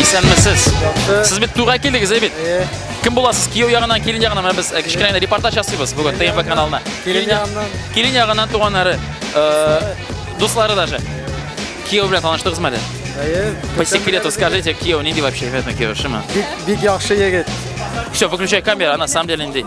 Исәнмесез. Сез бит туйга килдегез, ә бит? Кем буласыз? Кияү ягыннан, килен ягыннан менә без э, кечкенә репортаж ясыйбыз бүген ТМБ каналына. Килен ягыннан. Килен ягыннан туганнары, э, дуслары даже. Кияү белән таныштыгызмы әле? Әйе. По секрету скажите, кияү нинди вообще? Бик бик яхшы егет. Все, выключай камеру, а на самом деле нинди.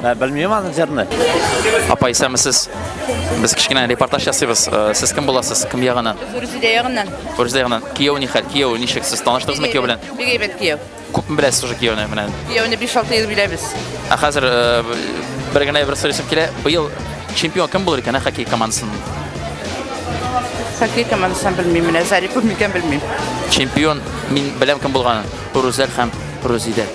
Ә, белмим аны җырны. Апа, исәмесез. Без кечкенә репортаж ясыйбыз. Э, Сез кем буласыз? Кем ягыннан? Рүзидә ягыннан. Фөрүзә ягыннан. Кияү ни хәл? Кияү ничек? Сез таныштыгызмы кияү белән? Бик әйбәт кияү. Күпме беләсез уже кияүне менә? Кияүне 5-6 ел беләбез. Ә хәзер э, бер генә бер сорыйсым килә. Быел чемпион кем булыр икән, ә, хоккей командасын? Хоккей командасынан белмим менә, Зарипов микән белмим. Чемпион мин беләм кем булганын. Рузәл һәм Рузидә.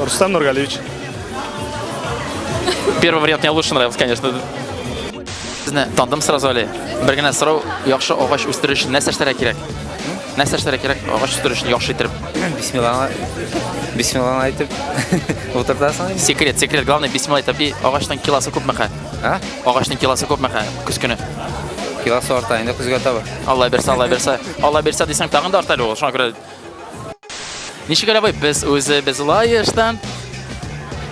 Рустам Нургалевич. Первый вариант мне лучше нравился, конечно. Безне тандым сразу әле. Бер генә сорау, яхшы агач үстерү өчен нәрсә эшләргә кирәк? Нәрсә эшләргә кирәк агач үстерү өчен яхшы итеп? Бисмилланы бисмилланы әйтеп утыртасың. Секрет, секрет, главное бисмилла әйтеп. И агачның киласы күпме хә? А? Агачның киласы күпме хә? Көз көне. Киласы арта инде көзгә таба. Алла бирсә, Алла бирсә. Алла бирсә дисәң тагын да арта әле ул. Шуңа күрә Ничек алабый? Без үзе без лаештан.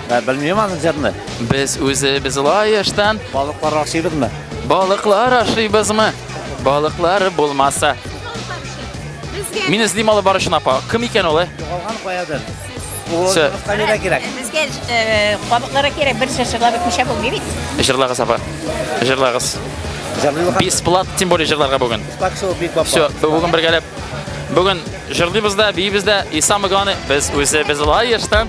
Ә белмим аны җырны. Без үзе без лаештан. Балыклар ашыйбызмы? Балыклар ашыйбызмы? Балыклар булмаса. Мин эзлим алып барышын апа. Кем икән ул? Югалган каядыр. Все. Камера кирәк. Безгә кабыклары кирәк. Бер шешелар бетмичә булмый бит. Җырлагыз апа. Җырлагыз. Бесплат, тем более җырларга бүген. Все, бүген бергәләп Бүген җырлыйбыз да, биибез дә, и самое главное, без үзебез лаешта.